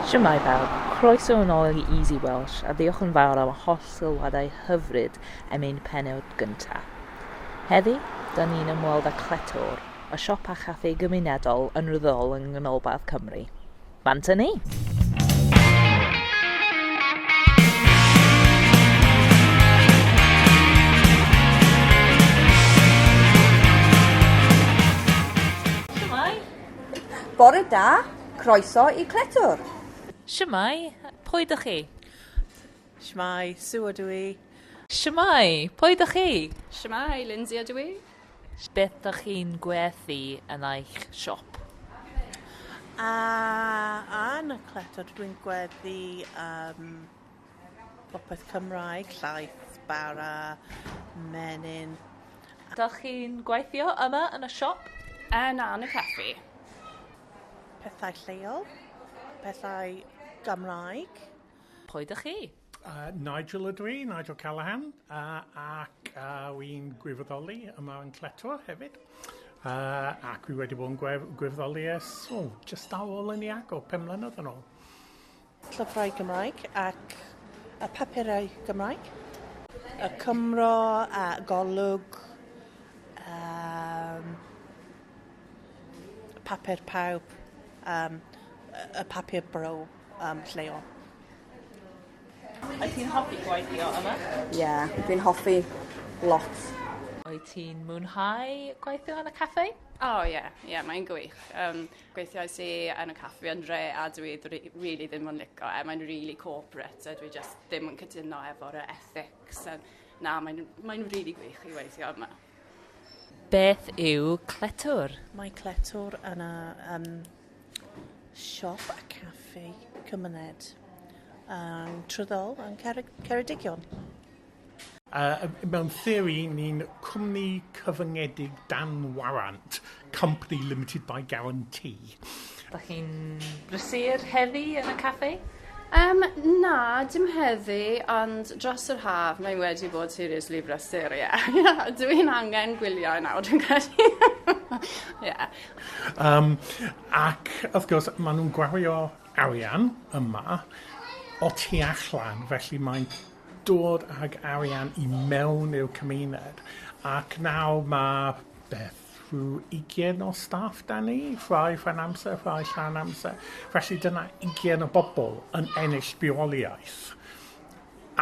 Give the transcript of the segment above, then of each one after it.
Shwmae bawb, croeso yn ôl i Easy Welsh a diolch yn fawr am y holl sylwadau hyfryd am ein pennod gynta. Heddi, da ni'n ymweld â Cletwr, y siop a chaffi gymunedol yn ryddol yng Nghanolbarth Cymru. Bant â ni! Bore da, croeso i Cletwr. Shwmae, pwy dych chi? Shwmae, Sue ydw i. Shwmae, pwy dych chi? Shwmae, Lindsay ydw i. Beth dych chi'n gwerthu yn eich siop? A, yn y Cletwr dwi'n gweddu um, Popeth Cymraeg, llaeth, bara, menyn. Dach chi'n gweithio yma yn y siop? Yy na, yn y caffi. Pethau lleol, pethau Gymraeg. Pwy dych chi? Yy Nigel ydw i, Nigel Callaghan, yy ac yy wi'n gwirfoddoli yma yn Cletw hefyd. Yy ac wi wedi bod yn gwef- gwirfoddoli ers, o, jyst ar ôl ynni agor, pum mlynedd yn ôl. Llyfrau Cymraeg ac y papurau Cymraeg. Y Cymro a Golwg. Um, papur pawb. Um, y papur bro um, lleol. Wyt ti'n hoffi gweithio yma? Ie, yeah, dwi'n hoffi lot. Wyt ti'n mwynhau gweithio yn y caffe? O oh, ie, yeah, yeah, mae'n gwych. Um, Gweithiais i yn y caffi yn re a dwi rili ddim yn lico e. Mae'n rili corporate a dwi just ddim yn cytuno efo'r ethics. A na, mae'n mae rili gwych i weithio yma. Beth yw Cletwr? Mae Cletwr yna um, siop a caffi cymuned um, trwyddol yn Ceredigion. Yy mewn theori, ni'n cwmni cyfyngedig dan warant, company limited by guarantee. Dach chi'n brysur heddi yn y caffi? Yym na, dim heddi, ond dros yr haf mae wedi bod seriously brysur, ie. Dw i'n angen gwylio nawr dwi'n credu. Ie. Yym ac wrth gwrs ma' nw'n gwario arian yma o tu allan, felly mae'n dod ag arian i mewn i'r cymuned ac nawr ma' beth rhyw ugian o staff 'da ni, rhai rhan amser rhai llawn amser felly dyna ugian o bobol yn ennill bywoliaeth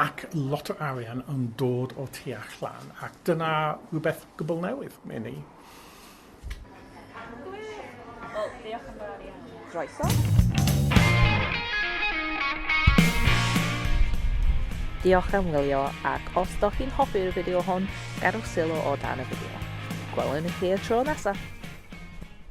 ac lot o arian yn dod o tu allan ac dyna rhywbeth gwbwl newydd i ni. Gwych! Wel, diolch yn fawr iawn. Croeso. Diolch am wylio ac os do chi'n hoffi'r fideo hwn, gadwch sylw o dan y fideo. Gwelwn i chi y tro nesaf!